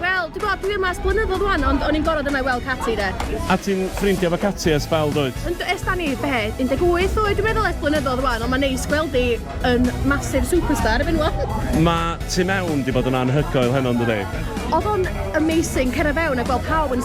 Wel, dwi'n gwybod, dwi yma ers blynyddoedd rwan, ond o'n i'n gorfod yma i weld Cati, de. A ti'n ffrindio efo Cati ers sbel, dwyt? Yndw, ers da ni, be, 18 oed dwi'n meddwl, ers blynyddoedd rwan, ond mae'n neis gweld hi yn massive superstar erbyn ŵan. Mae tu mewn 'di bod yn anhygoel heno, yn dydi? Oedd o'n amazing, cerdded fewn a gweld pawb yn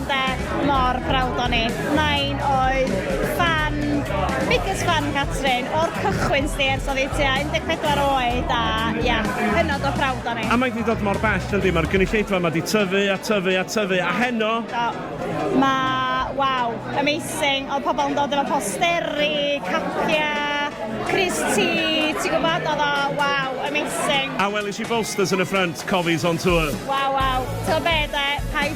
Ynte, mor browd o ni. Nain oedd ffan, biggest fan Catrin, o'r cychwyn sdi ers oedd hi tua 14 oed a ia, hynod o browd o ni. A mae 'di dod mor bell yndi, mae'r gynulleidfa 'ma 'di tyfu a tyfu a tyfu a heno. Do, mae, waw, amazing, oedd pobl yn dod efo posteri, capiau, crys ti, ti'n gwybod, oedd o, waw, amazing. A welish i bolsters yn y ffrynt, Cofies on Tour. Waw waw, ti'n gwybod be de, paid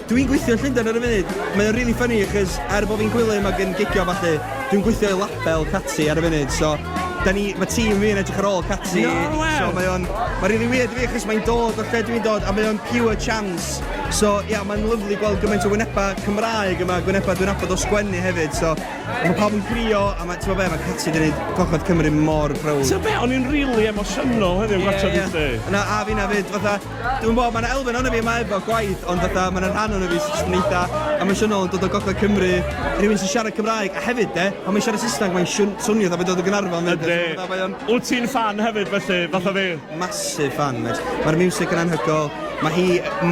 Dwi'n gweithio yn Llundain ar y funud. Mae o'n rili ffyni achos er bo' fi'n gwilym ac yn gigio a ballu, dwi'n gweithio i label Catty ar y funud, so 'dan ni... ma' tîm fi yn edrych ar ôl Catty... No wê! ...so mae o'n... ma'n rili wierd i fi achos mae'n dod o lle dwi'n dod a mae o'n pure chance, so ia, mae'n lyfli gweld gymaint o wynebau Cymraeg yma, gwynebau dwi'n nabod o sgwennu hefyd, so ma' pawb yn crio a ma', t'mod be', ma' Catty 'di neud Gogledd Cymru mor browd. T'mod be', o'n i'n rili emosiynol heddiw yn gwatsiad hi 'fyd. Ie ie ie. Na, a finna 'fyd, fatha, Dwi'm yn gwbod, mae 'na elfen ohono fi yma efo gwaith, ond fatha, mae 'na rhan ohono fi sy jyst yn eitha emosiynol yn dod o gogledd Cymru, rhywun sy'n siarad Cymraeg, a hefyd de, pan mae'n siarad Saesneg mae'n siwn- swnio fatha mae'n dod o Gaernarfon 'fyd, so fatha mae o'n... Yndi. Wyt ti'n ffan hefyd felly, fatha fi? Massive ffan mêt. Mae'r miwsig yn anhygoel, mae hi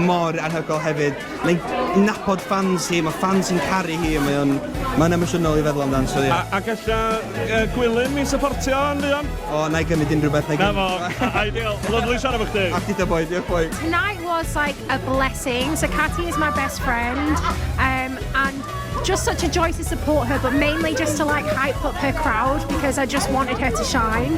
mor anhygoel hefyd. Mae'n nabod ffans hi, mae ffans hi'n caru hi, mae o'n... Mae'n emosiynol i feddwl amdano, so ie. A, a galla uh, Gwilym mi supportio yn fuan? O, na i gymryd unrhyw beth, na i Na fo, ideal. Lyflu siarad efo chdi. A chdi da boi, diolch boi. Tonight was like a blessing. So Katy is my best friend, um, and just such a joy to support her, but mainly just to like hype up her crowd because I just wanted her to shine.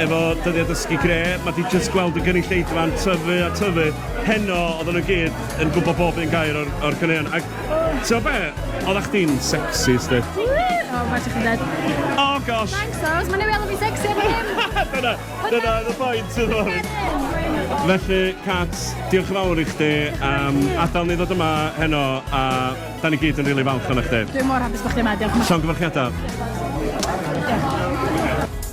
efo dyddiau dysgu greu, mae di jyst gweld y gynulleidfa'n tyfu a tyfu. Heno, oedden nhw gyd yn gwybod bob un gair o'r, or caneuon. Ac, ti'n be, oedd a'ch di'n sexy, sti? O, mae chi'n dweud. O, gosh! Thanks, Rose, mae'n ei weld fi'n sexy efo hyn! dyna, dyna oedd y pwynt, ti'n dweud. Felly, Kat, diolch yn fawr i chdi am adael ni ddod yma heno, a da ni gyd yn rili falch o'n chdi. Dwi'n mor hapus bod chdi yma, diolch yn fawr. Llongyfarchiadau. Diolch.